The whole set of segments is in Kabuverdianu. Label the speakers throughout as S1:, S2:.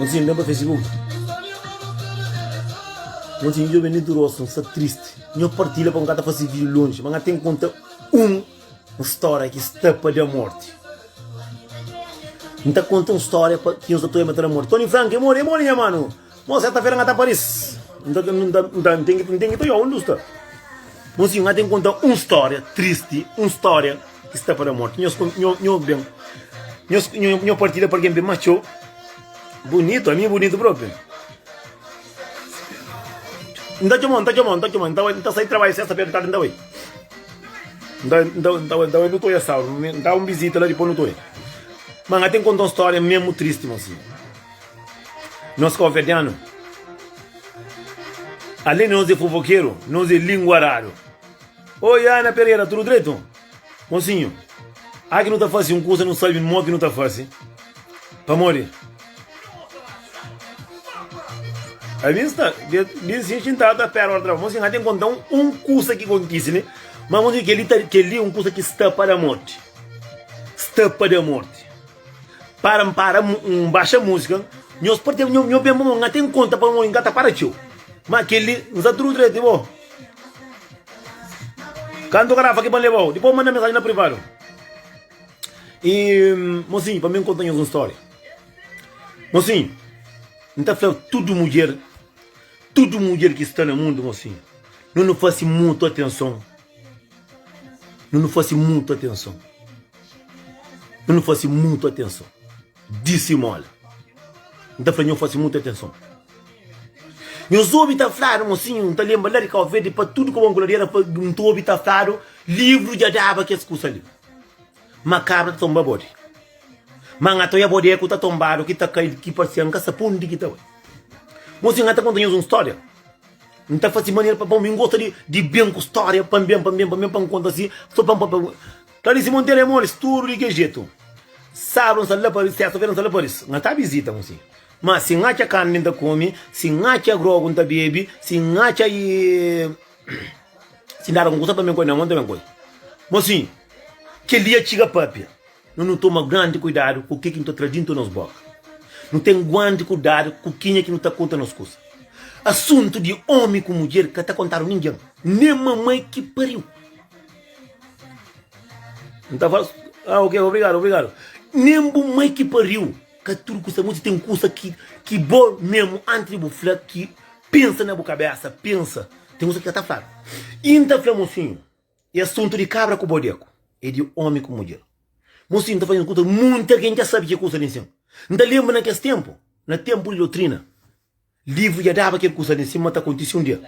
S1: Mozinho ben pa facebook Mozinho djobe Nildo Roson sta triste Nho partilha pa N ka ta fase video longe ma N ten konta un un storia ki sta pa da morte N ta konta un storia pa ki nhos ta toia ma ta da morte Tony Frank e more e more nha mano Mon serta fera ngata paris Nta nten ki nten ki ta yo undi usta Mon si nga ten konta un storia tristi un storia ki sta pa da morti Nhos nho ben nho partida pa algen ben ma txeu Bunitu ami bunitu propi Nta txomau nta txomau nta txomau Nta sai trabalha sesta fera di tardi nta bai Nta bai nutoria sauru nta un bizita la dipos nutoria Ma nga ten konta un storia mesmu tristi mon si. Nos káuverdianu, alén di nos é fofokeru, nos é linguaradu. Oi, Ana Pereira, tudu dretu? Mosinhu, aki nu ta fase un kusa nu sabe mó ki nu ta fase. Pamodi a bin sta bin si xintadu ta pera ora traba. Mosinhu, ha ten konta un kusa ki kontise li. Ma mosinhu, kel li ta kel li un kusa ki sta pa da morti. Sta pa da morti. Para n para n baxa música Nhos parte nho nho ben bom nga tem conta pa nho nga ta para txeu ma keli n sa tru trete bo kantu ka rafa ki pa n lebau dipos manda mensagem na privado e mosinho pa mi n conta nhos un storia mosinho n ta fla tudo mudjer tudo mudjer ki sta na mundo mosinho nho no fase mutu atenção Nu nu fase mutu atenson. Nu nu fase mutu atenson. Disimola. N ta fla nho fase mutu atenson. Nhos obi ta fladu, mosinhu, N ta lenbra la di Kau Verdi pa tudu ku Angola dera pa N ta obi ta fladu livru dja daba kes kusa li. Ma kabra ta tonba bode. Ma N atoia bode ku ta tonbadu ki ta kai ki paresia N ka sabe pa undi ki ta bai. Mosinhu, N ta konta nhos un storia. N ta fase manera pa pamo, mi N gosta di ben ku storia pa N ben, pa N ben, pa N ben pa N konta si so pa N papia ku. Clarice Monteiro é molis tudo di kel jeito sabru N sa la paris sexta feira N sa la paris nha ta visita mu si ma si N atxa carne N ta come si N atxa grogu N ta bebe si N atxa si N dada algun coisa pa ben coi nha mon ta ben coi ma si kel dia txiga papia. Nu nu toma grandi kuidadu ku ke ki nu ta tra dintu nos boka. Nu ten guandi kudadu ku kenha ki nu ta konta nos kusa. Asuntu di omi ku mudjer ka ta kontadu ningen, nen mamai ki pariu. Nu ta fala, Ah, ok, obrigadu, obrigadu. Nen bu mai ki pariu. Ka tudu ku sta muti. Ten kusa ki ki bo mesmu, antis di bu fla, ki pensa na bu kabesa. Pensa. Ten kusa ki ka ta fladu. I N ta fla, Mosinhu, E asuntu di kabra ku bode ku e di omi ku mudjer. Mon si N ta faze un kuza ki munti algen dja sabe ki kuza li nsin. N ta lenbra na kes tenpu, na tenpu di dotrina, livru dja daba kel kuza li nsin ma ta kontisi un dia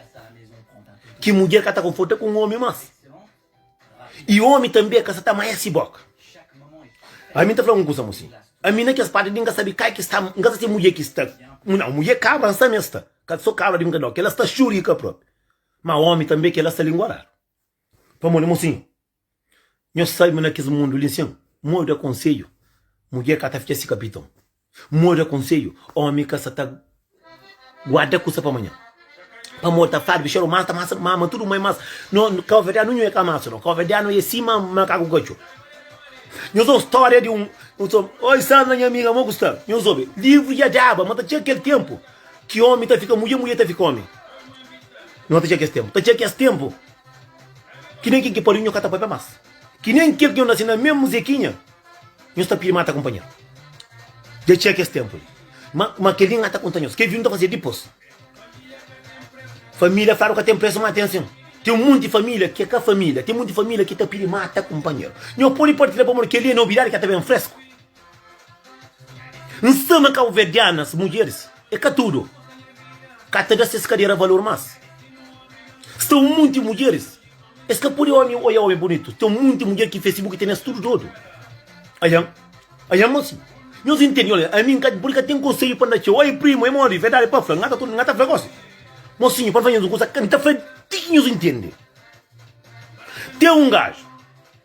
S1: ki mudjer ka ta konforta ku un omi mas i omi tanbe ka sa ta ama-s si boka. Ami N ta fla un kuza mon si, ami na kes parti li N ka sabe kai ki sta, N ka sa si mudjer ki sta, nau mudjer kabra N sabe ma es sta, ka so kabra di N ka dau, kel la sta xuri ki ka propi. Ma omi tanbe kela sta lingua radu pamodi mosin nhos sabe ma na kes mundu li nsin modi da konsedju mudjer ka ta fitxa si kapiton modi da konsedju omi ka sa ta guarda kusa pa manhan pamodi ta farbi xaru mas ta masa mama tudu mai mas no kaoverdianu nhu eka masa no kaoverdianu e si ma makaku katxu nhos obi storia di un nhos obi oi staba na nha amiga mo ku sta nhos obi livru dja daba ma ta txeka kel tempu Ki omi ta fika mudje, mudje ta fika omi. No ta txia kes tenpu. Ta txia kes tenpu ki nen kin ki pariu nho ka ta papia mas. Ki nen kel ki nho nase na memu zekinha, nho sta pidi ma ta kunpanheru. Dja txia kes tenpu li. Ma, ma kel li n'ga ta konta nhos. Kel vinhu ta fase dipos. Familia fladu ka ten presu ma ten sin. Ten munti familia ke ka familia. Ten munti familia ki ta pidi ma ta kunpanheru. Nho podi partilha pamodi kel li e nobidadi ka ta ben fresku. N sta ma kauverdianas mudjeris e ka tudu ka ta da ses kadera valor mas sta un monti mudjeris es ka pode omi oia omi bonitu ten un monti mudjer ki facebook tene es tudu dodu ayan ayan mas nhos intende nhos la ami n pode ka ten konselhu pa n da txeu oi primu e modi verdadi pa fla n ata tudu n ata fla gosi mosinhu pa n fla nhos un kusa n ta fla di ki nhos intende ten un gajo.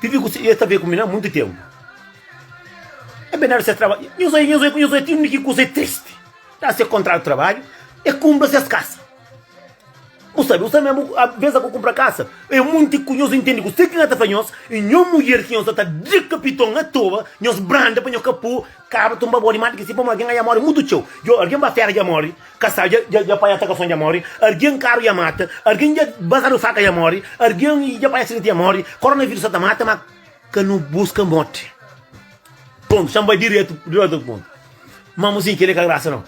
S1: Pipi ku es ta vê ku mi na munti ténpu. É bem dar ses trabadju. Nhos oi, nhos oi, nhos oi, tinha ki kusa é tristi. Dar ses kontratu trabadju, é kumpra ses kasa. Bu sabe, usa mé bu bêsa ku kumpra kasa. É munti ku nhos intende kusé ki N ta fla nhos, i nho mudjer ki nhos ta ta dikapiton atoa, nhos branda pa nho ka pô. Kaba tumba bo di mata ki si pamo algen aja mori mutu txeu djo algen ba fera ja mori kasal ja ja ja panha atakason ja mori argen karu ja mata argen ja basadu faka ja mori argen i ja panha asidenti ja mori koronavirus sa ta mata ma ka nu buska moti pontu sa n bai diretu diretu ku pontu ma musin keli ka grasa no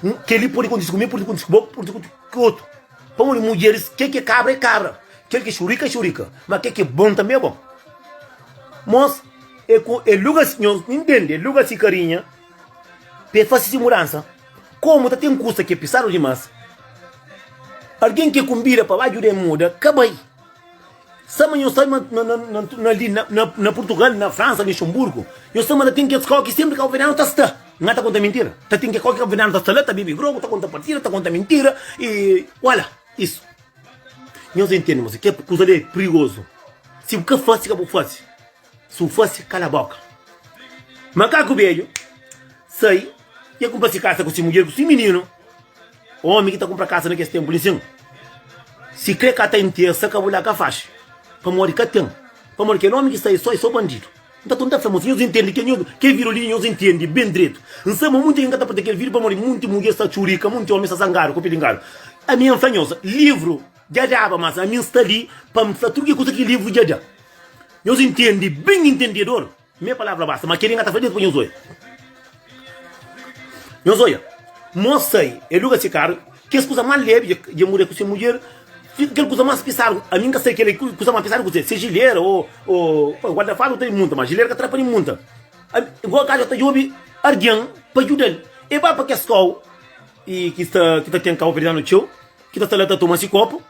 S1: n keli pudi kontisi ku mi pudi kontisi ku bo pudi kontisi ku otu Pamodi mudjeris, kel ki é kabra é kabra, kel ki é xurika é xurika, má kel ki é bon tanbê é bon. Mos é ku el luga si, nhos intende, el luga si karinha pa el fase si mudansa. Komu ta ten kusa ki é pisadu dimás, algen ki el kunbida pa ba djuda el muda ka bai. Sa ma nhos sta na na na na na li na na na Portugal, na França, Luxemburgo, nhos sta ma ta tem que escola que sempre cabo-verdiano ta sta. Nga ta conta mentira? Ta tem que escola que cabo-verdiano ta sta la, ta bebe grogo, ta conta partida, ta conta mentira e olha isso. Nhos entende moça que coisa li é perigoso. Se bu ka fasi ka bu fasi. Su fase kala boka. Makaku bedju sai y e kunpra si kasa ku si mudjer ku si mininu. Omi ki ta kunpra kasa na kes tenpu li sin, si kre ka ta intersa ka bu la ka faxi, pamodi ka ten. Pamodi kel omi ki sai so e so bandidu. Nta ton ta fla ma si nhos intendi kel nhos kel vidio li nhos intendi ben dretu. N sa ma munti algen ka ta pâpia kel vidio pamodi munti mudjer sta txurika, munti omi sta zangadu ku pilingadu. Ami N fla nhos, livru Dja daba mas ami n sta li pa n fla tudu ki kuza ki livru dja da. Nhos ntende ben intendedor? Mei palavra basta, ma kel-li N ka ta fla Deus pa nhos oia. Nhos oia, Mô sai, el luga se karu, kes kuza más lebi dja dja mudê ku se mudjer, fika kel kuza más pisadu, ami N ka sai kel-li ki kuza más pisadu kuzê, se jilera ô ô pa guarda fadu ta munta, ma jilera ka ta da pa N munta. Ami, Goa Gádja ta djobe algen pa djuda-l, e ba pa kes kau e ki sta ki ta ten kabuverdianu txeu ki ta sta la ta toma si kopu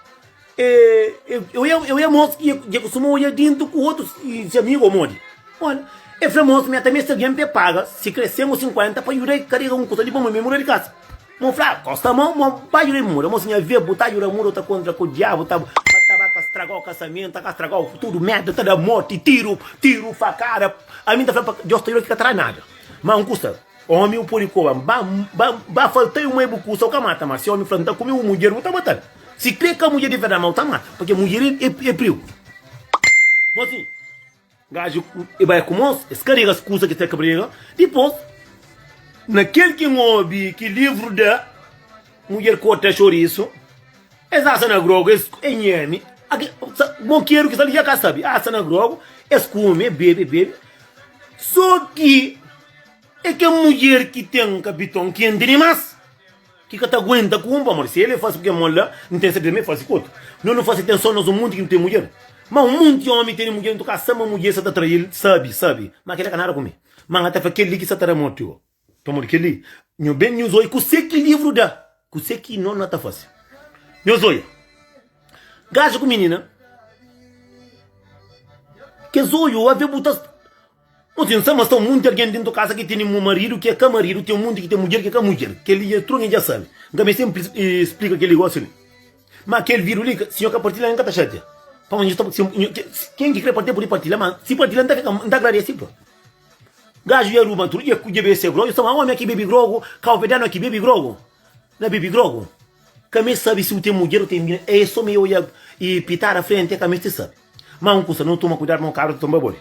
S1: e eu ia eu ia mos ia ia kustuma oia dintu ku otus si amigu o modi ola e fla mos meta meste algen pa e paga si kre sen o sinkuenta pa juda e karega un kusa di boma me muda di kasa mo fla kosta mo mo ba juda e muda mo si nha via bu ta juda muda u ta kontra ku diabu ta ma ta ba ka straga o kasamento ta ka straga o futuru meta ta da morti tiru tiru fakada ami ta fla pa dios ta juda ki ka ta da nada ma un kusa Omi u podi koba-m ba ba ba falta-i un mai bu kusa u ka mata ma si omi fla-m ta kume un mudjer bu ta mata-l si kre ka mudjer di verdadi ma u ta mata pake mudjer e prigu bo si gaji e bai ku mos es karega es kusa ki es ta kabrega dipos na kel ki n obi ki livru da mudjer korta xorisu es asa na grogu es e nhemi ake sa mokeru ki sta li ja ka sabi asa na grogu es kume e bebe e bebe so ki. É kel mudjer ki ten kapiton kenti dimás, ki ka ta aguenta ku un pamodi si el é fásil ku kel móda, nton es tanbê é fásil ku otu. No nu fásil ten sô nos un monti ki nu ten mudjer? Má un monti ómi tene mudjer, nton ka sta ma mudjer sta ta atrai-l. Sabe, sabe, má kel-la ka nada ku mi. Má N ka ta fla kel-li ki sta ta da moti ô pamodi kel-li. Nho ben, nhos odja kuzê ki livru da, kuzê ki no na ta faze. Nhos odja gaja ku minina, kes odju ave bu ta. No ten sa mas sta munti argen dentu kasa ki tene mu maridu ki e ka maridu ten munti ki ten mudjer ki e ka mudjer keli dja tru nge dja sabi n ka ben sempre splika keli gosi li ma kel vidu li sinhor ka partilha n ka ta xatia pama nho sta ken ki kre partilha pudi partilha ma si partilha n ta fika n ta agradesi pa gajo dja ruba tru dja dja bebe se grogu sta ma omi aki bebe grogu kau pe da no aki bebe grogu na bebe grogu. Ka mi sabi si u ten mudjer o ten bida, e so mi oja i pitada frenti, e ka misti sabi. Ma un kusa, no tuma kuidadu ma un kabra ta tonba bodi.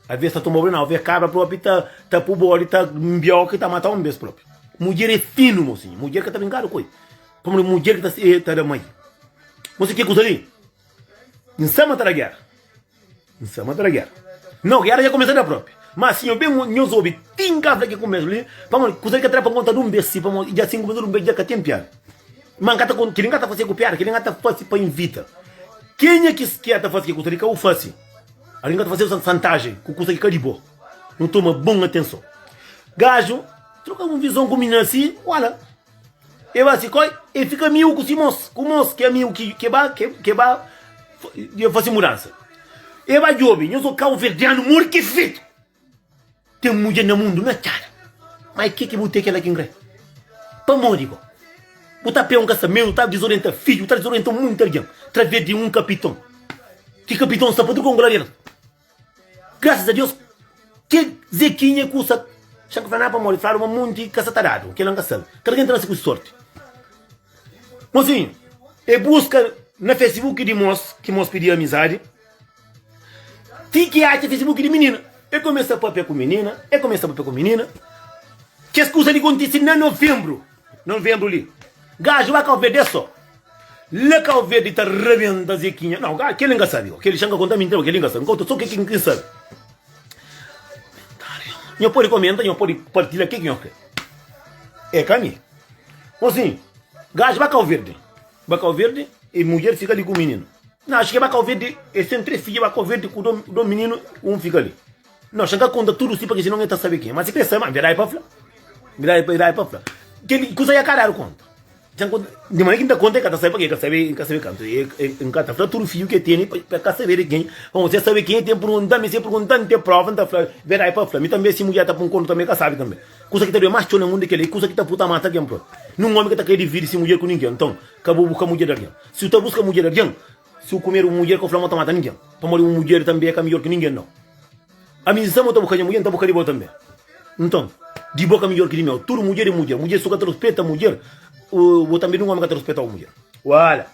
S1: Aves ta tonba bodi nau, aves kabra propi ta ta pu bodi ta nbiau ki ta matau un bes propi. Mudjer e finu, mo sinha, mudjer ka ta brinkadu ku el, pamodi mudjer ki ta ta da mai. Mo si ke kusa li, N sa ma ta da gera. N sa ma ta da gera. Nau, gera dja kumesa da propi. Ma si nho ben, nhos obi tin ka fla ki kumesa li, pamodi kusa li ka tra pa nkonta dun bes si, pamodi dja sinku bes dun bes dja ka ten piada. Ma N ka ta konta, kili N ka ta fase ku piada, kili N ka ta fase pa invita. Kenha ki skier ta fase ki kusa li, ka u fase. Algin ka ta fase u santajen ku kusa ki ka di bo. Nu toma bon atenson. Gaju troka un vison ku minha si, wala. E ba si koi, e fika amigu ku si mos, ku mos ki amigu ki ke ba, ke, ke ba e fasi mudansa. E ba djobe, nhos o kauverdianu mor ki fetu! Ten mudjer na mundu, na txada! Ma e ke ki bu te kela ki N kre? Pamodi bo, bu ta pê un kasamentu, bu ta dizorienta fidju, bu ta dizorienta munti algen, través di un kapiton, ki kapiton sta pa tudu konklariadu. Graças a Deus ke Zequinha ku sa Xan ka fla nada pamodi fladu ma monti ka sa ta dadu kela nka sal kada ken ta nase ku si sorti mosinhu e buska na Facebook di mos ki mos pidi amizadi ti ki atxa Facebook di minina e kumesa papia ku minina e kumesa papia ku minina kes kusa li kontisi na novembro. Nonvenbru li gaji bai kau verde so la kau verde ta rabenta zekinha nau gaji keli nka sabi keli xan ka konta minti nau keli nka sabi nka konta so keki nka sabi nho podi komenta nho podi partilha keki nho kre e ka mi bo si gaji bai kau verde bai kau verde e mudjer fika li ku mininu nau achi ke bai kau verde e sen tres fidje bai kau verde ku do mininu un fika li. Nau xa ka konta tudu si pake sinon e ta sabe ken ma si pe sa ma bira e pa fla bira e bira e pa fla keli kusa ya ka dadu konta nxan konta di manera ki nta konta e ka ta sabe pake e ka sabe e ka sabe kantu e e nka ta fla tudu fiju ke tene pa pa ka sabe de ken pa mon se sabe ken e ten purgunta mi se purgunta mi te prova nta fla bira e pa fla mi tambe si mudjer ta pun kontu tambe e ka sabe tambe kusa ki ta doe mas txeu na mundu e keli kusa ki ta pui ta mata algen prop nun omi ka ta kre dividi si mudjer ku ningen nton ka bu buska mudjer di algen si bu ta buska mudjer di algen Si bu kumedu un mudjer, ka bu fla ma bu ta mata ningen, pamodi un mudjer tanbe ka midjor ki ningen. Nau. Ami N sta-bu, ta bu ka dja mudjer, nta bu ka di bo tanbe. Nton, di bo ka midjor ki di meu. Tudu mudjer é mudjer. Mudjer su ka ta ruspeta mudjer, bo tanbe nin omi ka ta ruspeta bo mudjer. Uala!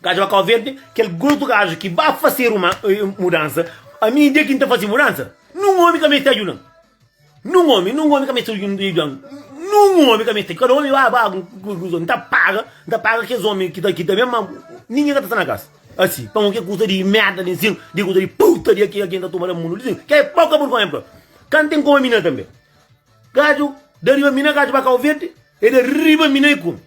S1: Gaju ba kau verde, kel grotu gaju ki ba fase ruma, mudansa. Ami, dia ki N ta fase mudansa, nin omi ka meste ajuda-m. Nun omi, nun omi ka meste un rigion, nun omi ka meste, kada omi ba ba ku konklusou, N ta paga, N ta paga kes omi ki ta kita mes, ma ningen ka ta sta na kas asi, pamo ke kusa di merda di nsin, di kusa di putaria ki algen ta tuma da mundu di nsin, ke poka burgonha pa ka N ten komi na tambe, gaju da riba mi na gaju ba kauverdi, e da riba mi na e komi.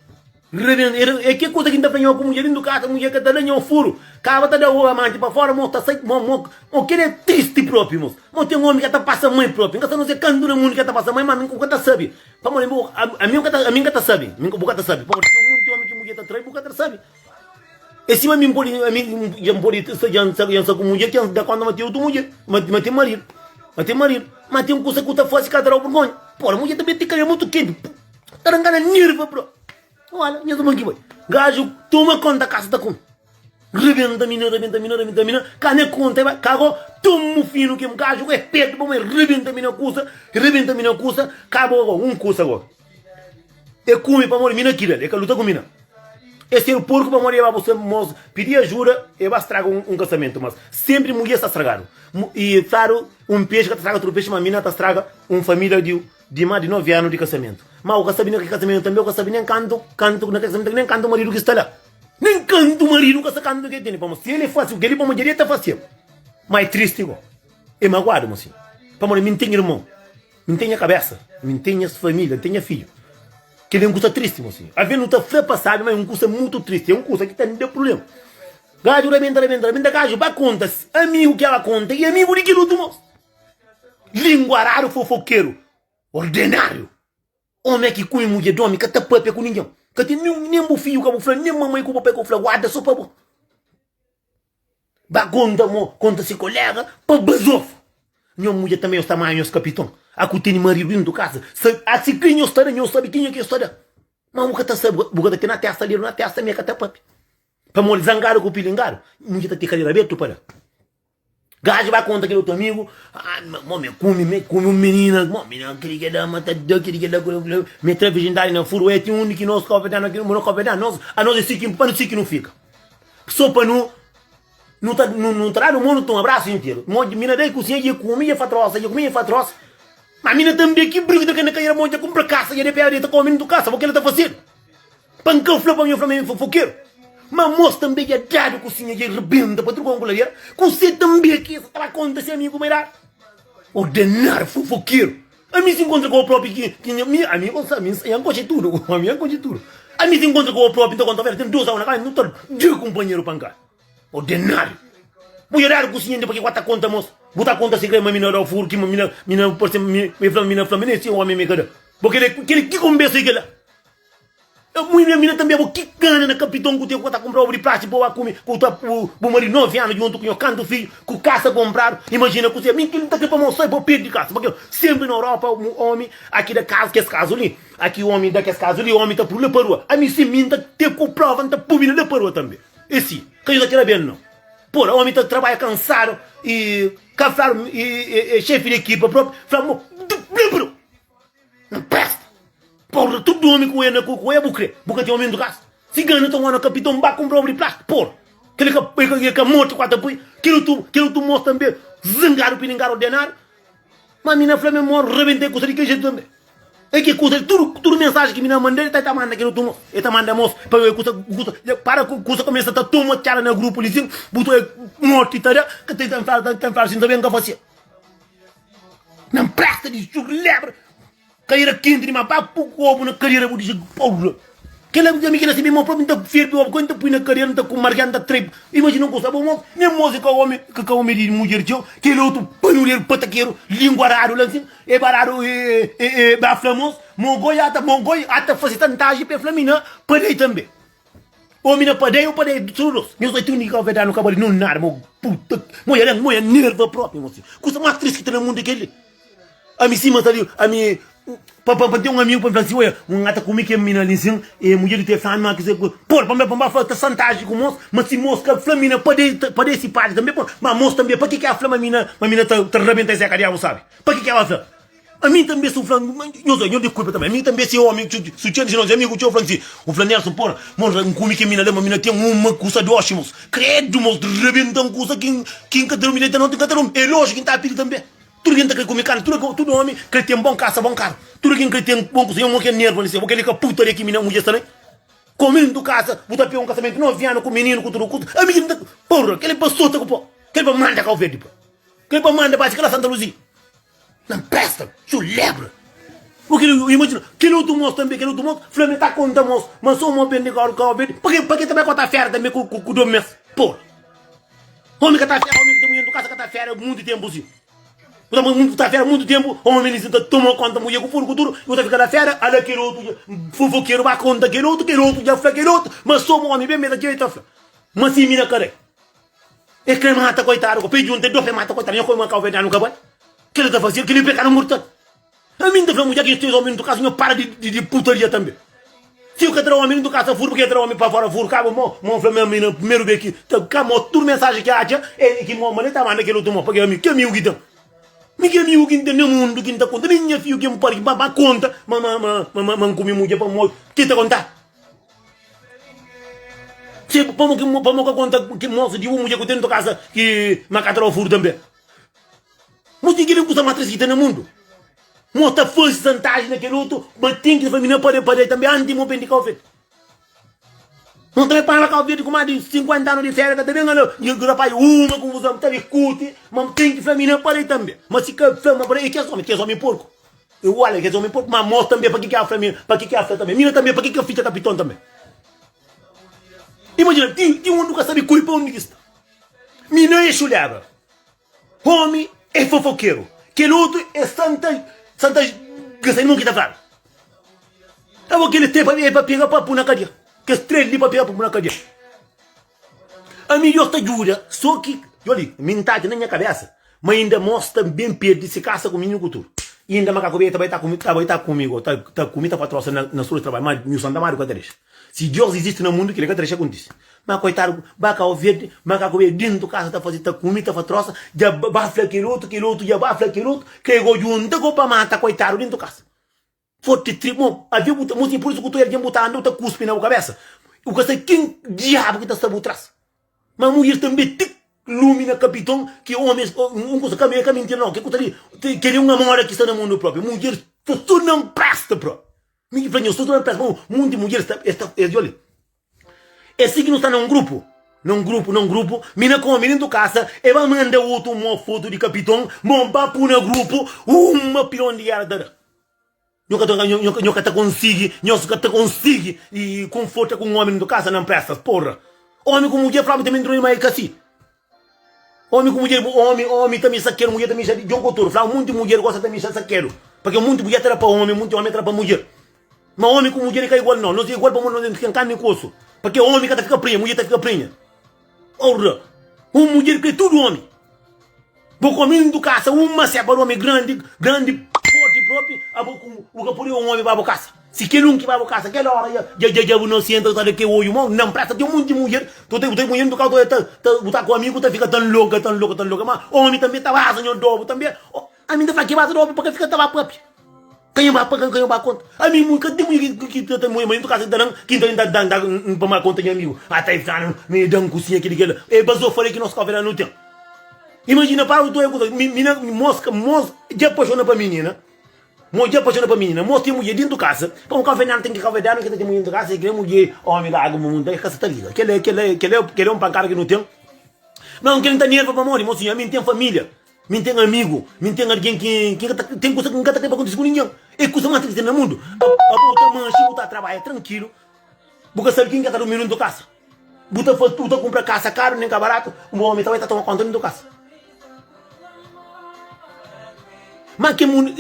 S1: Reverendo, e e ke kusa ki N ta fla nho ku mudjer indu kasa, mudjer ka ta da nho furu, kaba ta da o amanti pa fora, mo ta sai, mo, mo, mo kel e tristi propi, mos, mo ten omi ka ta pasa mai propi, N ka sa no se kantu na mundu ki e ta pasa mai, ma ami bu ka ta sabi, pamodi bu, a, ami ka ta, ami ka ta sabi, ami, bu ka ta sabi, pamodi ten monti omi ki mudjer ta trai bu ka ta sabi, e sima ami N podi, ami ja N podi sta ja N sa, ja N sa ku mudjer ke N da konta ma ten otu mudjer, ma, ma ten maridu, ma ten maridu, ma ten kusa ku ta fasi ka ta dau burgonha, pora mudjer ta ben ti kal, e mutu kenti, pu. Tá dan gana nirba bro. Wala, nhas irmon ki bai. Gajo toma konta kasa ta kume. Rebenta mina, rebenta mina, rebenta mina. Ka ne konta e bai. Ka bo tumu finu kem. Gajo ku e petu pa bai rebenta mina kusa, rebenta mina kusa. Ka bo agora, un kusa agora. E kume pamodi mina ki dal, e ka luta ku mina. E ser porku pamodi e ba bu mos pidi ajuda, e ba straga un kasamento. Mas sempri mudjer sta stragadu. Mu, e fladu un pexi ka ta straga tudu pexi, ma mina ta straga un familia di. Di ma di novi anu di kasamentu. Ma u ka sabi na kel kasamentu tanbe u ka sabi nen kantu kantu na kel kasamentu tanbe nen kantu maridu ki sta la. Nen kantu maridu ka sa kantu ke tene. Pamodi si el e fasi kel li pa mudjer i el ta fasi el. Ma e tristi go. E maguadu mo si. Pamodi mi N ten irmon. Mi N ten nha kabesa. Mi N ten nhas familia. N ten nha fidju. Kel li é un kusa tristi mo si. Alvês nu ta fla pa sabi ma é un kusa mutu tristi. É un kusa ki ta da prubléma. Gadju rabenta, rabenta, rabenta. Gadju ba konta amigu ki el ba konta i amigu di kel utru mos. Linguaradu fofokeru ordenáriu Ome ki kume mudjer di ome ka ta papia ku ningen Ka ten nen nen bu fidju ka bu fla nen mamai ku papai ka bu fla guarda so pa bo Ba konta mo konta si kolega pa bazofa Nho mudjer tanbe nhos ta manha nhos kapiton A ku tene maridu dentu kasa sa A si kri nhos ta da nhos sabe kenha ki nhos ta da Ma bu ka ta sabe bu ka ta ten na testa dedu na testa me ka ta papia Pamodi zangadu ku pilingadu mudjer ta ten karera abertu pa da. Gajo bai konta kel otu amigu, ah mo mi kumi mi kumi un minina, mo mi na kiri ke da ma ta da kiri ke da kula kula, mi tra virjindadi na furu, e ti undi ki nos kope da na ki no kope da nos, a nos e si ki pa si ki nu fika, so pa nu nu ta nu nu ta dadu mo nu ta un abrasu interu, mo mi na da e kusinha dje kumi dje fa trosa dje kumi dje fa trosa, ma mi na ta mbi ki brigida kende ka ira mo dje kumpra kasa dje de pea de ta kome nu tu kasa bo kila ta fasedu. Pa n ka fla pa mi, N fla ma mi fofokeru? Má amô-s tanbê dja dadu kusinha, dja rebenta pa tudu kantu ku la bira. Kuse tanbê ki es ta ba konta se amigu bai dadu? Ordenar fofokeru! Ami si nkontra ku au própi ki ki nha mi, ami gosi ami ya N konxe tudu, ami ya N konxe tudu. Ami si nkontra ku au própi, N ta konta-u, ten dôs awa na kasa, nu ta da kunpanheru pankada. Ordenadu! Bu dja dadu kusinha inda pa ki ku ka ta konta amô-s? Bu ta konta segredu ma mi na da-u furu, ki ma mi na, mi na parse, mi, mi fla ma mi na fla, mi na insti un ómi ma mi ka da. Bo kel-li, kel-li ki konbérsa é kel-la? Ê mui nha mina tanbê bo ki gana na kapiton ku tê ku ta kunpra obu di plástiku pa ba kume ku ta bu maridu novi anu djuntu ku nho kantu fidju ku kasa kunpradu imajina kuzê mi kel li ta krê pa mostra bo pedi kasa pa kila un senpri na europa un omi aki da kazu kes kazu li aki omi da kes kazu li omi ta pru la pa rua ami si mi nta tê ku prova nta pu mina la pa rua tanbê ê si ka djuda kel la ben nau pura omi ta trabadja kansadu i ka fla ê xefi di ekipa propi fla mo bem pa rua. Un pesta. Porra, tudo homem ku ena ku ê bu kre, bu ka tem homem do casa. Cigano ta mora capitão, ba compra obra de plástico, porra. Kele ka e ka morto qua ta pui. Kele tu, kele tu moço também zangado pilingar ordenado. Mas mi na fla-me moro rebentei kusa de kele jeito também. É que kusa, tudo, tudo mensagem que mi na manda, ele ta manda kele tu moço. Ele ta manda moço, pa e kusa, kusa, para ku kusa começa ta toma tchala na grupo lizinho, bu ta morto e ta da, ka tem tem fala, tem fala assim também, ka fasia. Na presta di su lebra Cadeira quente demais Para pôr o ovo na cadeira Vou dizer porra Quel é amigo na meu próprio Não ferve ovo Quando põe na cadeira Não com margem Não trepa Imagina não gostava Não nem moça que homem Que com homem de mulher teu Quel é outro Panulheiro Pataqueiro Língua raro Lá assim É barado É é é Bafla moço Mogoi Ata mogoi Ata fazer tantagem Para flamina Para lei também Omi na padeia o padeia di tudu nos Nhos bai tudu di kau-verdadi no ka bali no nada Mo puta Mo ya dan Mo ya nerva propi Mo si kusa mas tris ki ta na mundu é kel-li Ami sima ta li Ami pa pa pa N ten un amigu pa mi fla si Oia N ata kumi kel mina li nsin E mudjer di três anu mas kuzê ku Pol pa mi pa mi ba fla ta santaji ku mos Ma si mos ka fla mi na padei ta padei si padi tanbe pol Ma mos tanbe pa ki ki a fla ma mi na ma mi na ta ta rabenta es é ka diabu sabi Pa ki ki a ba fla. Ami tanbe si u fla nhos doi, nhos di kulpa tanbe. Ami tanbe si omi, si u txeu di si nos é amigu txeu, u fla-m si. U fla Nelson, Pora, mon ra, N kume kel mina la, ma mina ten un ma kusa di oxi, mos. Kredu, mos ta rabenta-m kusa ki ki N ka ta durmi noti, noti N ka ta durmi. El oxi ki N ta pidi tanbe. Tudu ki N ta kre kume karni, tudu tudu omi kre ten bon kasa, bon karu. Tudu ki N kre ten bon kusa, nha mo ke nerva li, se bo kel li ka putaria ki mina mudjer sta na el. Komu N ta kasa, bu ta pega un kasamenti novi anu ku mininu, ku tudu kusa. Ami ki N ta. Pora, kel li pa sota ku po. Kel li pa manda kau verdi pa. Kel li pa manda ba si ka la Santa Luzia. Na presta txu lebra. O kila u imajina kila otu mos tanbe kila otu mos fla me ta konta mos ma so mo bende ka ka obede pake pake ta bai kota fera tanbe ku ku domi mes por omi ka ta fera omi ka ta munhe ndu kasa ka ta fera mutu tempu si bu ta bu ta fera mutu tempu omi li si ta toma konta munhe ku furu ku tudu bu ta fika la fera ala kila otu ja fofokeru ba konta kila otu kila otu ja fla kila otu ma so mo omi ben me ta txeu e ta fla ma si mi na ka rai E kre mata koitadu ko pe djunta e do pe mata koitadu nha koi ma kauverdianu ka bai kela ta fasil keli pekadu murtal ami nta fla mu dja ki nha tiu omi ntukasu nha para di putaria tambe tiu ka tra omi li ntukasu ta furu pki nha tra omi pa fora furu ka bu mo mo nfla mi ami na primeru be ki ta ka mo tudu mensaji ki atxa e ki mo mane ta manda kel otu mo paki ami ki amigu ki ten mi ki amigu ki ten na mundu ki nta konta mi nha fiu ki npari ki nba konta ma ma ma ma ma nkumi mudja pamodi ki ta konta. Txê, pamo ki mo, pamo ka konta ki mosu di un mudjer ku ten otu kasa ki ma ka ta daba furu tanbe? Mo ten kile kusa ma tres ki ten na mundu. Mo ta fazi santaji na kel otu, ma ten ki famina pa pa dai tanbe anti mo ben di Kau Verdi. Mo ta para Kau Verdi ku ma di sinkuenta anu di feria, ka ta ben ala di rapaz uma konfuzon, ta dikuti, ma ten ki famina pa dai tanbe. Ma si ka fla, ma pa dai, e kes omi? Kes omi porku. E olha kes omi pop ma mos tanbe paki ki a fla mi pa ki ki a fla tanbe mina tanbe paki ki a fica capiton tanbe imagina ti ti un duca sabi curi pa undi ki sta mina e chuleba omi e fofoquero kel otu e santa santa ga sai di mon ki ta fla abo kelis tre pa pega pa pu na cadia kes tre li pa pega pa pu na cadia Ami Deus ta djuda so ki djoli mi nta ki na nha kabesa ma inda mos ta ben perdi si kasa ku mi nhu kutur inda makaku be ta bai ta ku mi ta bai ta ku mi go ta ta ku mi ta fa trosa na na suru di trabadju ma nhu santa madu ka ta dexa si Deus izisti na mundu kila ka ta dexa kontisi ma koitadu ba kau verdi makaku be dintu kasa ta faze ta ku mi ta fa trosa dja ba fla kel otu kel otu dja ba fla kel otu ke go djunta go pa mata koitadu dintu kasa. Forti tri mo avia bu ta mo sin pur isu ku tudu algen bu ta anda bu ta kuspi na bu kabesa u ka sa kin diabu ki ta sta bu tras ma mudir tambi tik lumi na kapiton ki omis un kusa ka ka mintira no ke ku ta li kere un amora ki sta na mundu propi mujer sta so na npresta propi mi ki fla nho sta so na npresta pa un munti mujer sta es ta es djoli. É si ki nu sta na un grupu, na un grupu, na un grupu, mi na kome dentu kasa, e ba manda otu mo fotu di kapiton, mo ba pu na grupu, uma pilon di gera ta da. Nho ka ta, nho, nho ka ta konsigi, nhos ka ta konsigi i konforta ku un omi dentu kasa na mprestas, porra! Omi ku mudjer flaba tame ntruni ma e ka si. Omi ku mudjer bu omi omi ta mixá kedu mudjer ta mixá di djon ku otur fla munti mudjer gosta ta mixá sa kedu pakia munti mudjer ta tra pa omi munti omi tra pa mudjer ma omi ku mudjer e ka igual no nos e igual pamodi nos e msken karni ku osu pakia omi ka ta fika prinha mudjer ta fika prinha orra un mudjer kre tudu omi bo ku omi ntu kasa un ma sepa omi grandi grandi forti propi abo ku bu ka pode un omi ba bo kasa. Si kel un ki bai bu kasa kel ora ya dja dja dja bu na senta bu ta da ke odju mau nan presa ten monti munjer bu ta ke munjer ntuka ta ta bu ta ku amigu ta fika tan loka tan loka tan loka ma omi tanbe ta basa nho dobu tanbe o ami nta fla ke basa dobu pa ke fika ta ba papia ka nho ba paka ka nho ba konta ami mu ka ten munjer ki ki ta ta munjer ma nho ntuka ta dan ki nta dan dan n pa ma konta nho amigu a ta e fla nan mi dan kusinha kili kila e bas o fale ki nos kofe la no ten imajina para bu ta oja kusa mi mi na moska mos dja paxona pa minina Mudjer paxona pa minina mos ten mudjer dentu kasa pa un kavedianu ten ki kavedianu ki ta ten mudjer dentu kasa si kre mudjer omi da agu mumu nta kasa ta liga kela é kela é kela é kela é un pankada ki nu ten na un kila nta nerva pamodi mo sinhor mi ten familia mi ten amigu mi ten algen ki ki nka ta ten kusa ki nka ta kre pa kontisi ku ningen é kusa mas triste na mundu pa pa bu ta manxi bu ta trabalha trankilu bu ka sabi kin ki ka ta rumi nu dentu kasa. Bu ta faz tudo, ta compra casa caro nem ca barato, um homem também ta toma conta de tua casa. Mas que mundo,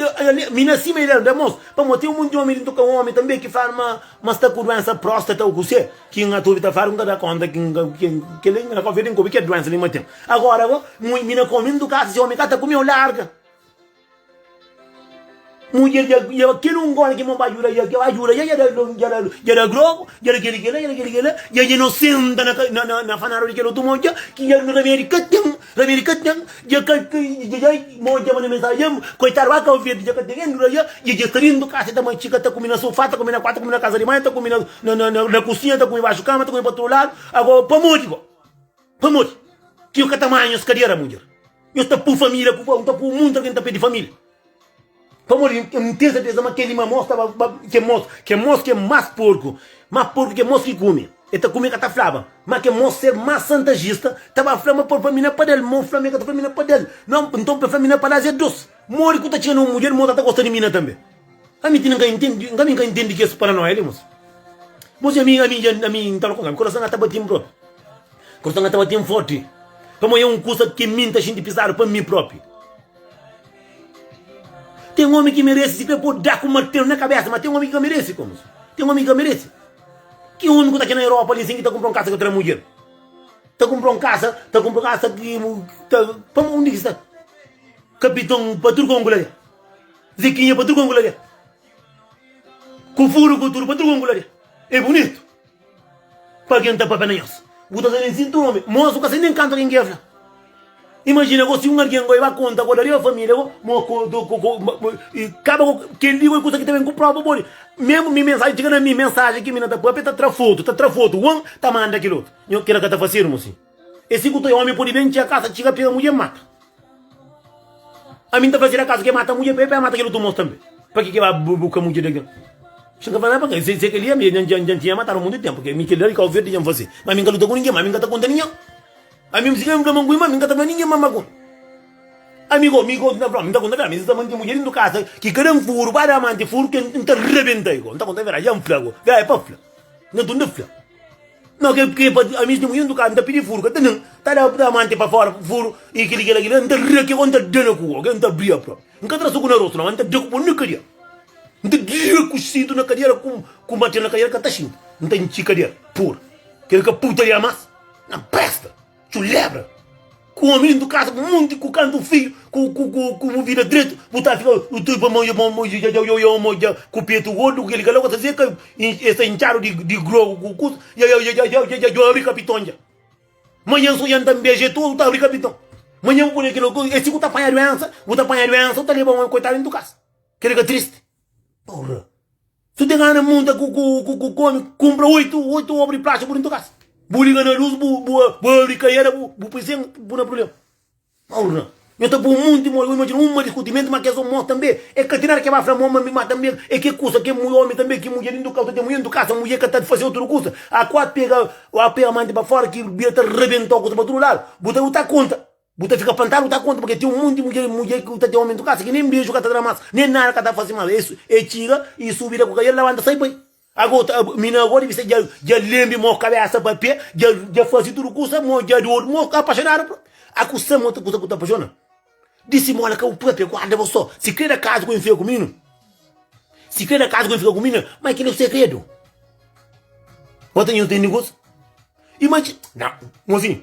S1: me nasci me ideia, irmãos, para mim tem um monte de homem dentro que um homem também que fala, mas, mas está com doença próstata ou você, que ainda tu tá falando, cada conta que que que ele ainda confia em como que é doença ali mas tem. Agora, me na comindo casa, se homem cá tá comigo larga. Mudjer dja dja ba kel un gol ki mo ba djuda dja dja ba djuda dja dja da dja da dja da grogu dja da kel li kel la dja da kel li kel la dja dja no senta na na na na fanadu di kel otu modja ki dja no remedi ka ten remedi ka ten dja ka ka dja dja modja manda mensagem dja koitadu ba kau verdi dja ka ten en dura dja dja dja ta bin tu kasa ta matxika ta kumi na sofá ta kumi na kuartu ta kumi na kasa di mai ta kumi na na na na kusinha ta kumi baxu kama ta kumi pa tudu ladu ago pamodi go. Pamodi ki yo ka ta manha nhos kadera, mudjer? Nhos ta pô família ku N ta pô monti algen ta perde família. Pamodi N ten serteza ma kel-li ma môs ta ba ba kel môs, kel môs ki é más porku, más porku ki kel môs ki kume. El ta kume ka ta flaba. Má kel môs, ser más santajista, ta ba fla ma pâ fla mi na pada-l. Mô fla ma el ka ta fla mi na pada-l. Nton, pa fla mi na palas é dôs. Modi ki bu ta txiga na un mudjer, mô ta ta gosta di mina tanbe? Ami ti nka intendi, nka ami nka intendi kes paranoia li mosi. Mosi ami ami ja ami nta fla ku ami kurason nga ta batin propi. Kurason nga ta batin forti pamo e un kusa ki mi nta xinti pisadu pa mi propi. Ten omi ki meresi sikrê po da ku martelu na kabesa ma ten omi ki ka meresi ko mosi. Ten omi ki ka meresi. Ki omi ku ta ki na Europa li sin ki ta kumpra un kasa ka tra mudjer. Ta kumpra un kasa, ta kumpra kasa ki ta pamo undi ki sta. Kapiton pa tudu konku la. Ziquinha pa tudo com glória Com furo com tudo pa tudo com glória É bonito Pa quem tá papé na nhos Bu tá sem sinto nome Mos bu ka sei nem canto quem quer fla Imagina go si um alguém go ba conta go da riba família go Mo co do co co E caba go Quem li go é coisa que ta bem com prova body Mesmo mi mensagem tchiga na mi Mensagem ki mina ta papia ta tra foto Ta tra foto One ta manda kil oto Nho kila ka ta facermo si. E si ku ta e omi podi ben txia kasa txiga pega mudje mata ami nta fazira kasu ke mata mudje pa e pa e mata kel utu mos tambe pa ki ke ba buka mudje de algen si nka fazia pa ke se ke li ami e dja ntinha matadu mutu tempu ke mi kel li kau verdi dja nfase ma ami nka luta ku ninge ma ami nka ta konta ninge ami si kel fla ma nkuima ami nka ta fla ninge ma makun ami ko mi ko nta fla mi nta konta fla mi si ta manti mudje dentu kasa ki ka dan furu ba da manti furu ke nta rebenta i ko nta konta fla dja nfla ko fla e pa fla nta tunda fla. Não, que, que, a minha testemunha do carro, tá pedindo furo, tá não, tá da, da mante para fora, furo, e aquele, aquele, aquele, não tá rã, que onde tá dando com, ok, não tá brilha próprio, não tá traço com na rosto, não, não tá dando com na cadeira, não tá dando com cinto na cadeira, com, com bater na cadeira, que tá cinto, não tá enchi cadeira, por, que que puta de amas, não presta. Txu lebra ku omi lindu kasa ku monti ku kantu filhu ku ku ku ku bu vida dretu bu ta fika u tui pa moja mo moja ja jau jau moja ku petu gordu keli kala ku ta seka e sta intxadu di di grogu ku kusa ja jau jau jau jau jau abri kapiton ja manhan so jan ta nbeja e todu ta abri kapiton manhan bu pudi kila ku e si ku ta panha duensa bu ta panha duensa u ta leba omi koitadu lindu kasa keli ka tristi. Porra. Tu tem ana monta ku ku ku ku homem, compra oito, oito obra de plástico dentro da casa. Bu liga na luz, bu, bu, bu abri caieira, bu, bu põe sem, bu na problema. Porra. Eu tô por muito, mano. Eu imagino uma discutimento, mas que é só morto também. É que tem nada que vai falar, mano, mas também é que coisa que mulher, homem também, que mulher dentro do carro, tem mulher dentro do carro, mulher que tá de fazer outra coisa. A quatro pega, a pega a manta para fora, que bia tá rebentou a coisa para todo lado. Botar outra conta. Bu ta fika pantadu, bu ta konta ma ke ten un monti mudjer, mudjer ku ta ten omi dentu kasa ki nen beju ka ta da mas, nen nada ka ta fasi mas. Es e txiga, e subi da ku kaiel, labanta sai bai. Ago ta, mina ago dibi sta dja lembi mo kabesa pa pe, dja dja fasi tudu kusa, mo dja di odu, mo ka apaxonadu pro. Akusa mo ta kusa ku ta apaxona? Di simola ka bu propia guarda bo so sikredu a kazu ku N fika ku minu? Sikredu a kazu ku N fika ku mina? Ma kila e sekredu. Bo ta nju ntende kusa? Imaji, na, mo sin.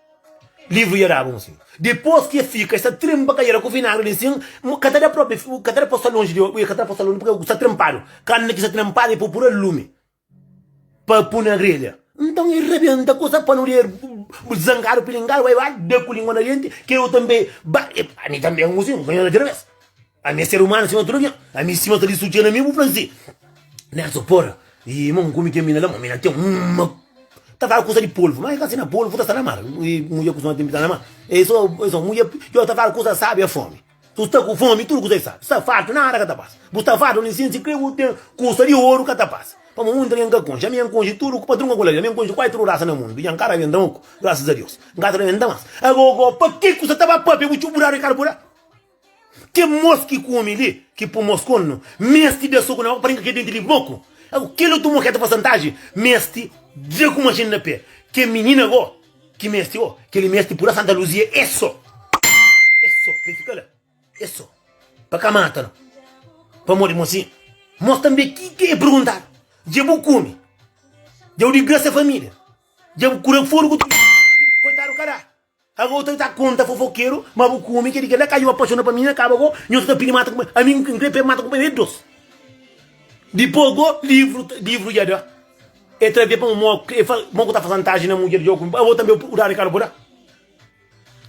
S1: Livru dja daba un sin. Dipôs ki el fika, el sta trinpa kadera ku vinagri di sin. N ka ta da própi, N ka ta da pa-u sta lonji di el. Ui, el ka ta da pa-u sta lonji purkê ku sta trinpadu. Karni ki sta trinpadu, el pô pur alumi pa pui na grelha. Nton el rabenta ku se panu di el, bu zangadu pilingadu, bai ba da ku língua na denti. Ke bu tanbê ba. Ami tanbê un sin, N ka ta da otra bês. Ami é ser umanu sima tudu algen Ami sima ta di su txena mi bu fla si Nelson porra Ih ma un ku mi ten mina la ma mina ten uma Ta fala kusa di polvu ma e ka sina polvu ta sta na mar Ih mudjer ku sona ten pita na mar E i so e so mudjer Yo ta fala kusa sabi é fomi Su sta ku fomi tudu kusa e sabi Sta fartu nada ka ta pasa Bu sta fartu ami sinti kre bu ten kusa di oru ka ta pasa Pamo mundu algen ka konxe ami N konxe tudu ku patrun ka kula li ami N konxe kuazi tudu rasa na mundu dja N ka ta benta ma ku grasas a Deus N ka ta benta mas Agogo pa ki kusa ta ba papia bu txu bu da rikarburá Ke mos ki kume li ki po mos konu mesti da soku na boka pa renka ke denti li boku agu kela tu mo ke ta fase antaji mesti dia ku machine na pe ke minina go ki mesti o keli mesti pula santa luzia e so e so pa e fika la e so pa ka mata no pamodi mo si mos tambe ki ke e perguntadu dia bu kume dia bu digrasa familia dia bu kura foru ku tudu koitadu ka da. Ago bu ta ta konta fofokeru ma bu ku omi ke di kela ka yo apaxona pa mina kaba go nho ta ta pidi mata ku pa ami n kre pedi mata ku pa e dos dipos go livru livru ya da e tra bia pa mo e fa mo ku ta fa santaji na mudjer jo ku abo tambe bu dadu kal bo da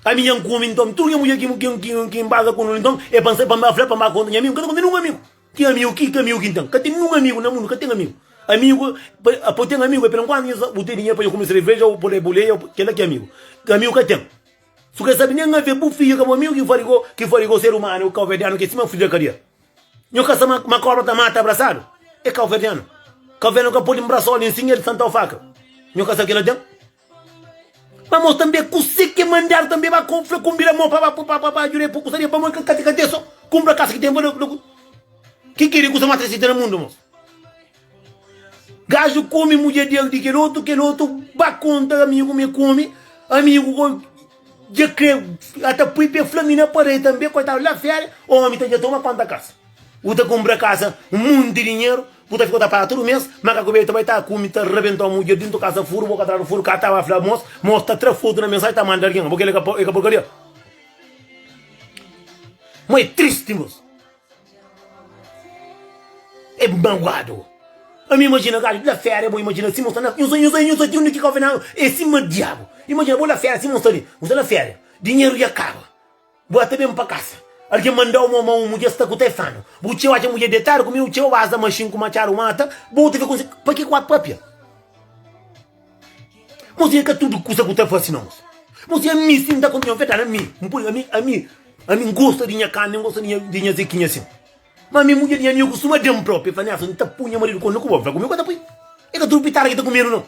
S1: ami ya n ku omi nton tur nha mudjer ki ki ki n baza ku no nton e pa n sa e pa n ba fla pa n ba konta nha amigu n ka ta konta nungu amigu. Ten amigu ki ka amigu ki N ten. Ka ten ninhun amigu na mundu ka ten amigu. Amigu pa pa bu ten amigu é pa el enkuantu nhos bu ten dinheru pa nhos kume sereveja ô pode buleia ô kel-la ki é amigu. Amigu ka ten. Si bu ka sabe nen ave bu fidju ka bu amigu ki fla di bo ki fla di bo ser umanu é kauverdianu ki é sima fidju na kadia. Nhos ka sabe ma kobra ta mata abrasadu? É kauverdianu. Kauverdianu ka pode nbrasau nen sin el santau faka. Nhos ka sabe ki el la ten. Ba mo tanbe kuse ke mandar tanbe ba ko fla kumbira mo pa ba ba jure po kusaria pamo ke kate kate so kumbra kas ke ten valor loku ke kere kusa mas tresita na mundu mo gajo kome mudjer di aldi kel otu kel otu ba konta amigu me kome amigu ko. Dja kre a ta pui pé fla mi na parede tanbê koitadu la féria omi ta dja toma konta kasa u ta kunpra kasa un monti dinheru ku ta fika u ta paga tudu mês ma ka kube ta bai ta kumi ta rabenta omi u dja dintu kasa furu boka atrás di furu ka ta ba fla mos mos ta tra fotu na mensaji ta manda algen bo kela é ka porkaria mo é tristi mos. É bu manguadu. Ami imagina gajo ki la fera é bo imagina sima usa na usa usa usa ti undi ki kau fina é sima diabu imagina bo la fera sima usa li usa la fera dinheru ya kaba bo ya ta ben pa kasa algin mandau mo ma un mudjer sta ku te fanu bu txeu atxa mudjer detadu ku mi u txeu aza maxin ku matxadu mata bo ta fika un si pa ki ku a papia. Mos e ka tudu kusa ku ta fasi na mos. Mos e ami sin, da kontinua nfeta ami. Npoi ami, ami, ami ngosta di nha karni, ngosta di nha zekinha sin. Ma ami mudjer di nha amigu kustuma dam propi, e fla niasa, nta pui nha maridu komi, ku bo nfla komi, e ka ta pui. E ka tudu pitada ki ta kumedu no.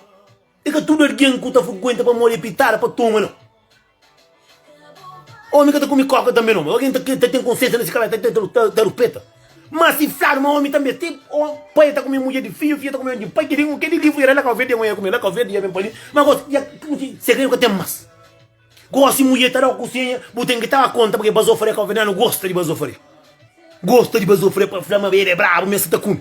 S1: E ka tudu algen ku ta frkuenta pamodi e pitada pa toma no. Omi ka ta kume koka tanbe no, mas algen ta ta ten konsiensia na se kabesa ta ta ta rupeta. Mas si fladu ma omi tanbe te pai ta kume mudjer di fidju, fidju ta kume di pai, ki di ki di livru era la kau verde, ngoia kume la kau verde ya ben pali, ma gosi ya segredu ka ten mas. Gosi mudjer ta dau kusenha bu ten ki ta ba konta pake bazofre ya kau verde la no gosta di bazofre, gosta di bazofre pa fla ma el e brabu ma el sa ta kume.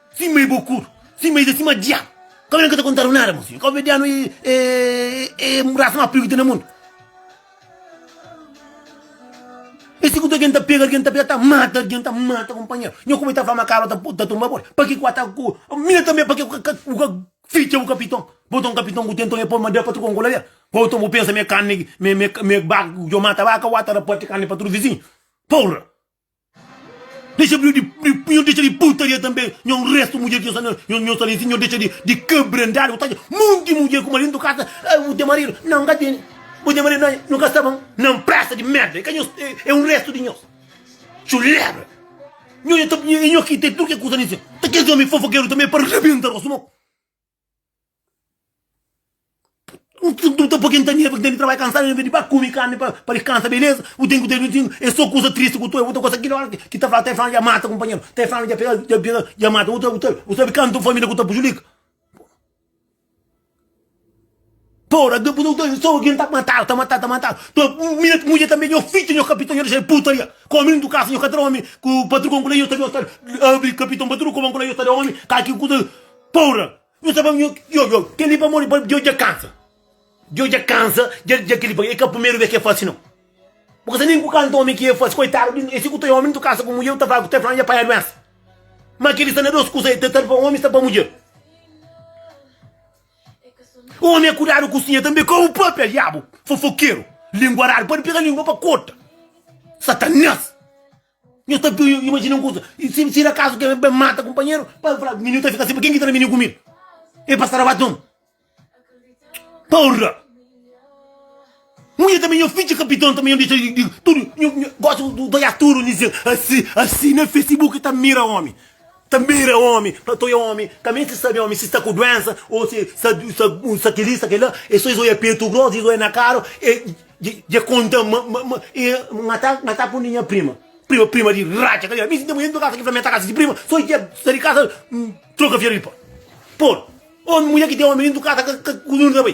S1: Sima e bocudo, sima e sima diabo Cabo ka ta contado nada mo filho, caboverdiano é raça ma pior ki tem na mundo E si kutu algen ta pega algen ta pega ta mata algen ta mata companheiro Nho como ta fala cabo ta tumba boli paki ku ata ku mina também paki ku ka bu ka ficha bu capitão bo ta um capitão ku tem então e poi madeira pa tudo com coladeira Ou então bu pensa me carne me me me ba djo mata vaca ou ata ta parti carne pa tudo vizinho porra. Dexa bri di nhos dexa di putaria tanbe nhos un restu mudjer ki nhos ta lisi nhos dexa di kabrandada bo ta atxa monti mudjer ku maridu ntu kasa ai bu ten maridu nan nka tene bu ten maridu nan nhos ka sta bon nan presa di merda i ka nhos e un restu di nhos txuleba nhos e nhos ki ten tudu ke kusa na infernu ta kes omi fofokeru tanbe pa rebenta rostu bo. N ka ta poi kel tamia pa ki tene trabadju kansadu enves di ba kume karni pa diskansa beleza bu ten ku ten ten e so kusa tristi ku ta oi bu ta gosta kila ora ki ta fla ta fla dja mata kunpanheru ta fla dja pega dja pega dja mata bu sabe kantu família ku ta prujudika. Tora da buzon ta sô algen ta matadu ta matadu ta matadu ta mira ki mudjer tanbe nho fidju nho kapiton nho dexa el putaria ku omi ndu kasa nho ka tra omi ku patrukon kula nho ta nho ta abri kapiton patru ku bon kula nho ta da omi ka ki kusa pora nho ta fla yo yo keli pamodi djo dja kansa djo dja kansa dja dja keli pa e ka primeru bes ke fasi no bo kasa nen ku kanta omi ki e fasi koitadu di e si ku ta omi ndu kasa ku mudjer u ta fla ku ta fla dja panha duensa ma keli sta na dos kusa e ta tarba omi sta pa mudjer. Omi é kudadu ku sinha tanbe ka u papia diabu fofokeru linguaradu pode pega lingua pa kota satanas nho ta imajina un kusa si si akazu ki el ben mata kunpanheru pa el fla mi nhu ta fika si pa ken ki ta da mi nhu kumida e pasa rabat omi porra. Un dia tanbe nha fidja kapiton tanbe nha disa di tudu nha gosta di toia tudu nha disa asi asi na facebook ta mira omi ta mira omi ta toia omi ka meste di sabe omi si sta ku duensa o si sta kili sta kila e so es oia petu gros es oia na karu e dje konta ma ma nha ta nha ta kundi nha prima prima prima di ratxa kalial mi sinta ma nha intra kasa ki fla mi nha ta kasa si prima so dje sa di kasa troka fiel di pa pol omi mulher ki ten omi dintu kasa ka ka ku nunde ta bai.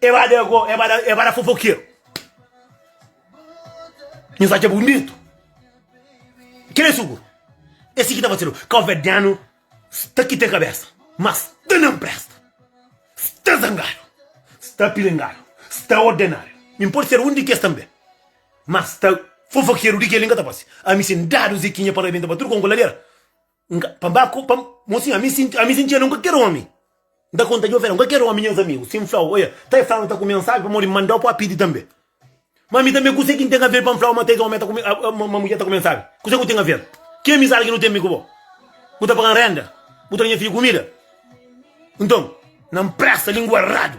S1: E ba da go, e ba da, e ba da fofokeru. Nhos atxa bunitu? Kel é suguru. É si ki ta fasidu. Kauverdianu sta ki ten kabesa, ma sta na mpresta. Sta zangadu, sta pilingadu, sta ordenadu. Mi N pode ser un di kes tanbe, ma sta fofokeru di kel li N ka ta fase. Ami sin dadu Zekinha pa rabenta pa tudu konku ladera. Nka, pa ba ku, pa, mo sinha, ami sinti, ami sintia nunka ker omi. Nta konta Jofé, nunka ker omi nhas amigu. Sin flau, oia, ta e flau na ta kume nsabi pamodi mandau pa pidi tambe. Ma ami tambe kuse ki nten aver pa nflau ma ta es omi ta kume, a, ma mudjer ta kume nsabi? Kuse ku ten aver? Ki amizadi ki nu ten mi ku bo? Bu ta pagan renda? Bu ta da nha fidju kumida? Nton, na mpresta lingua radu.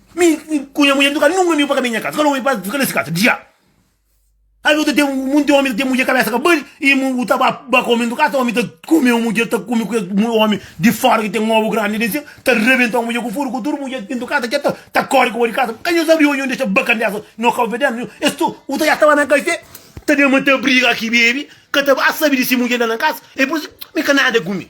S1: Mi ku nha mudjer nu ka nunka mi pa kaminha nha kasa, kal omi pa fika nes kasa? Dja! Alvês bu ta ten monti omi ta ten mudjer kabésa ka bali i bu ta ba ba ka omi dentro kasa, omi ta kume un mudjer ta kume ku kes omi di fora ki ten obu grandi den sima, ta rebenta un mudjer ku furu ku tudu mudjer dentro kasa dja ta ta kori ku bo di kasa, bu ka dja sabri omi un dexa ba kandesa no kau fedenu nhu es tu u ta dja staba na kafé ta den ma ta briga ki bebe ka ta ba sabi di si mudjer la na kasa e poi mi ka nada ku mi.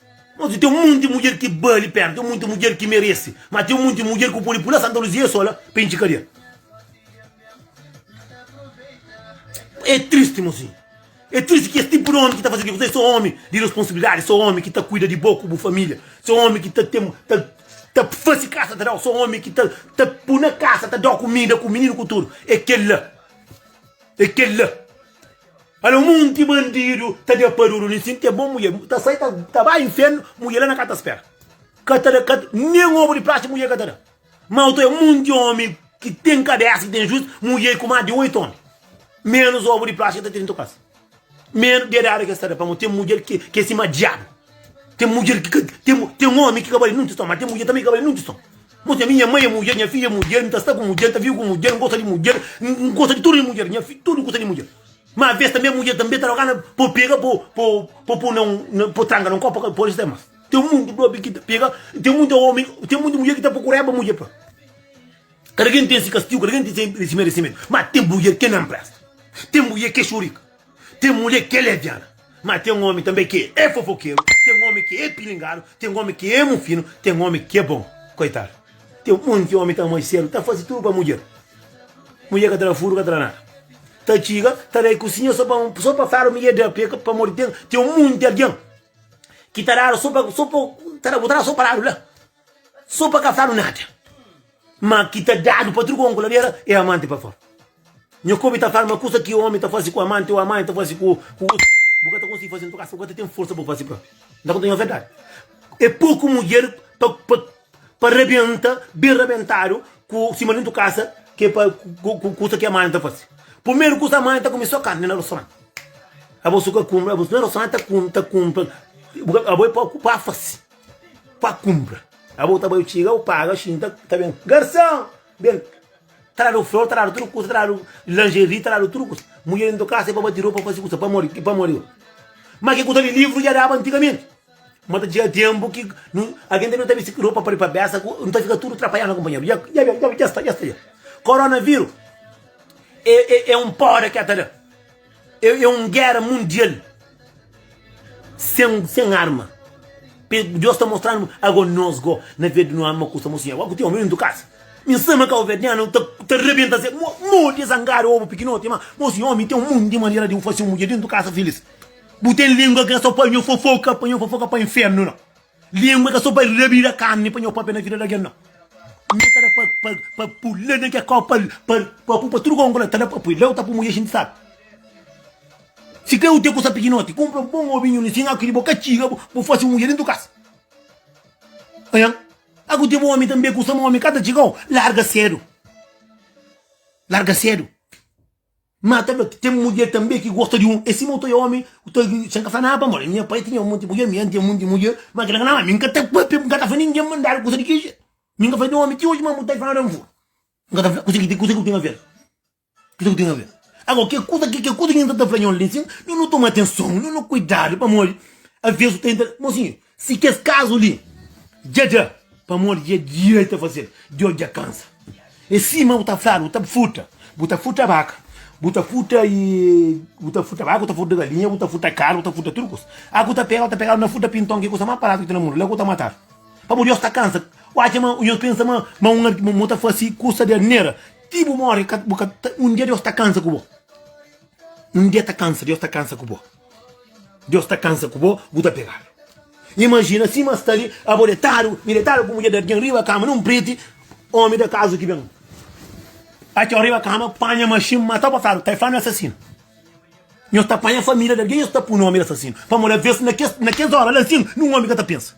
S1: Noti ten monti mudjer ki bali pena, ten monti mudjer ki meresi, ma ten monti mudjer ku podi pula Santa Luzia sola pa intxi kadia. É tristi, mozinhu. É tristi ki es tipu di omi ki ta fase kuzê, so omi di responsibilidadi, so omi ki ta kuida di bo ku bu familia, so omi ki ta ten, ta ta fase kasa ta dau, so omi ki ta ta pui na kasa, ta dau kumida ku mininu ku tudu. É kel-la, é kel-la. Alô munti bandidu ta dja paduru li sin ten bon mulher ta sai ta bai infiernu mulher la na ka ta spera ka ta da nen obu di praxe mulher ka ta da ma otu é munti omi ki ten kabesa ki ten juiz mulher ku mas di oitu omi menus obu di praxe ki ta tene nto kasa menus dedada ki es ta da pamo ten mulher ki ke sima diabu ten mulher ki ka ten ten omi ki ka bali nunti son ma ten mulher ki ka bali nunti son mo ten mi nha mai é mulher nha fi é mulher nta sta ku mulher nta vive ku mulher ngosta di mulher ngosta di tudu di mulher nha fi tudu gosta di mulher. Ma aves tanbe mudjer tanbe ta rogana pa bu pega pa bu pun na un pa tranga na un kopa ka pode ser mas ten mutu dobi ki ta pega ten mutu omi ten mutu mudjer ki ta prokureba mudjer pa kada ken ten si kastigu kada ken ten si meresimentu ma ten mudjer ke na presta ten mudjer ke xurika ten mudjer ke leviana Má ten ómi tanbê ki é fofokeru, ten ómi ki é pilingadu, ten ómi ki é mufinu, ten ómi ki é bon. Koitadu! Ten monti ómi ta amoi séru, ta faze tudu pa mudjer. Mudjer ka ta da furu, ka ta da nada. Ta txiga, ta bai kusinha sô pa sô pa fla ma i é da. Peka pamodi ki ten ten monti algen ki ta dadu sô pa sô pa ta da bu ta da sô pa ladu la. So pa ka fla-nu nada ma ki ta dadu pa tudu ku omi ku labera e amanti pa fora. Nha kobi ta fla-nu ma kusa ki omi ta fasi ku amanti o amanti ta fasi ku otu, bu ka ta konsigi fasi n'tu kasa, bu ka ta ten forsa pa bu fasi propi. N ta konta-nu nha verdadi, e poku mudjer pa pa pa rabenta ben rabentadu ku sima di n'tu kasa ke pa ku kusa ki amanti ta fasi. Pumeru kusa amanti ta kume so karni na rostorant, abo so ka kume, abo so na rostorant ta kume ta kume, abo e poku pa fasi. pa kunpra Abo ta bai yo txiga u paga xi nta ta ben Garson ben Ta dadu flor ta dadu tudu kusa ta dadu lingerie ta dadu tudu kusa Mudjer nta kasa e pa bati ropa fasi kusa pamodi ki pamodi yo Ma ki ku ta li livru dja daba antigamenti Ma ta txiga tenpu ki nu algen ta ben ta bisti ki ropa pari pa besa ku nu ta fika tudu trapalhadu na kunpanheru dja dja ben dja sta dja sta dja Koronaviru e e e un poda ki el ta da. É un géra mundial sen arma. Deus ta mostra-nu ago nos go na vez di nu ama kusa mo sinhor. Ago ku ten omi dintu kasa, mi N sama kabuverdianu ta rebenta se modi e zangadu obu pikinoti. Ma mo sinhor, mi ten un monti di manera di N fase un mudjer dintu kasa filis. Bu ten lingua ki na sta panha fofoka, panha fofoka pa infernu la. Lingua e ka so pa rabira karni pa nho papia na vida di algen nau mi e ta da pa pula na ke kau pa pupa tudu konko la ta da pa pui la u ta pui mujer xinti sabi si kre u ten kusa pikinoti kunpra un bon ovinhu li si nha kiri bo ka txiga bo bo fasi un mujer dentu kasa nha a ku teve omi tambe kusa ma omi ka ta txigau larga sedu larga sedu. Má ta fla, Ten mudjer tanbê ki gosta di un. É sima, bu ta oja ómi ku ta. Sen ka fla nada pamodi nha pai tinha monti mudjer, mi ami tinha monti mudjer. Má kel-la ka ta. Mi N ka ta pâpia, N ka ta fla ningen ma N dadu kusa di ki jeitu. Mi N ka fla di un ómi ti oji ma N bota-l fora da N fura. N ka ta fla. Kuzê ki bu ten a fla-l? Kuzê ki bu ten a fla-l? Ago, kel kuza ki kel kuza ki N ta ta fla nha un li sin, nu toma atenson, nu kuidadu pamodi, avês bu ta intra. Monsinhor, Si kes kazu li dja dja pamodi dja dja e ta fazel djo dja kansa e sima bu ta fla bu ta futa bu ta futa baka bu ta futa e bu ta futa baka bu ta futa galinha bu ta futa kar bu ta futa tudu kusa a ku ta pega bu ta pegadu na futa pinton ki kusa ma paradu ki ten na mundu la ku ta matadu pamodi nhos ta kansa u atxa ma nhos pensa ma ma un ma un ta fasi kusa di arnera ti bu morri ka bu ka un dia nhos ta kansa ku bo. Un dia ta kansa Deus ta kansa ku bo Deus ta kansa ku bo bu ta pegadu imajina sima sta li abo detadu mi detadu ku mudjer di algin riba kama nun priti omi da kazu ki ben atxo riba kama panha maxin mata bo fladu kai fladu mi asasinu nhos ta panha familia di algin nhos ta pu nomi di asasinu pamodi aves na kes na kes ora la sin nun omi ka ta pensa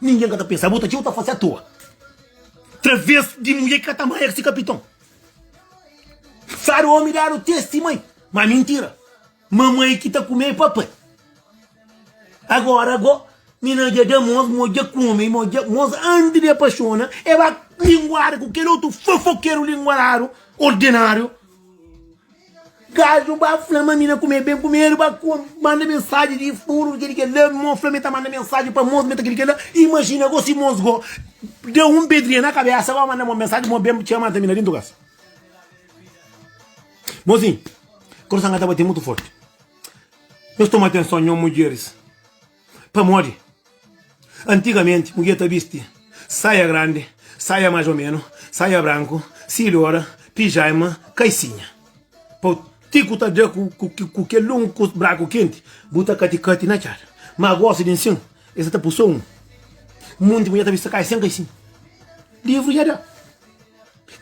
S1: ningin ka ta pensa abo ta txeu ta fase atoa traves di mudjer ki ka ta mai el si kapiton. Sari omi dadu test di mai ma mintira mamai ki ta kume papai agora go mina ja da mos mos ja kume mos ja mos anti de apaixona eba linguada ku kel otu fofokeru linguaradu ordenariu Gaju ba fla ma mi na kume ben kumedu ba manda mensaji di furu di kel kel la mo fla mi ta manda mensaji pa mos mi ta kel kel la imajina go si mos go da un pedria na kabesa ba manda mo mensaji mo ben txia mata mi na dintu kasa mosi korson ka ta bate mutu forti nos toma atenson nho mudjeris Pamodi antigamenti mudjer ta bisti saia grandi, saia más o menu, saia branku, silhora, pijaima, kaisinha. Pau ti ku ta dra ku kel lungu ku braku kenti, bu ta kati-kati na txada. Má gosi di nsin, es sa ta pui so un. Munti mudjer ta bisti kai sen kaisinha. Livru dja da.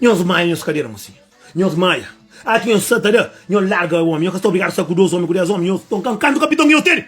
S1: Nhos maia nhos kadera, mosinha. Nhos maia. Ati nhos sa ta da, nhos larga omi. Nhos ka sta obrigadu sa ku dos omi, ku des omi. Nhos ton kan kantu kapiton ki nhos tene.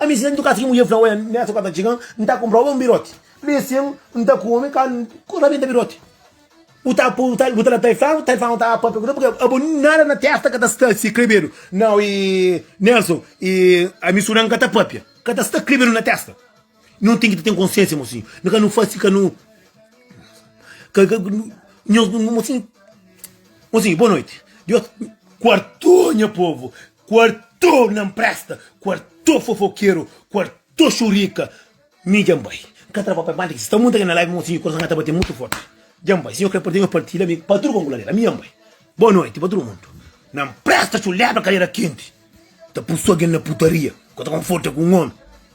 S1: Ami sen ntuka si ki mudjer fla, Oia, nessa ku a ta txiga, N ta kunpra oba un biroti. P'e sen, N ta kume ka N rabenta biroti. Bu ta po, bu ta, bu ta la tai flau, tai flau ta apa p'e kuda, purki abo nada na testa ka ta sta si krebedu. Nau, i Nelson, i ami suda N ka ta papia, ka ta sta krebedu na testa. No ten ki ta ten konsiensia, mosinhu, no ka no fasi si ka no, ka, ka, nhos, mosinhu, mosinhu, boa noiti, Deus, kuartou nha povu, Quarto na mpresta quarto fofokeru quarto xurika mi dja nbai nka tra papel manda ki sta munta ki na live monsinho coração nha ta bate mutu forti dja nbai si nho kre partilha nho partilha mi pa tudo kongolazer ami dja nbai boa noite pa tudo mundo na mpresta culebra cadeira kente ta pusu algen na putaria nka ta conforta ku um homem.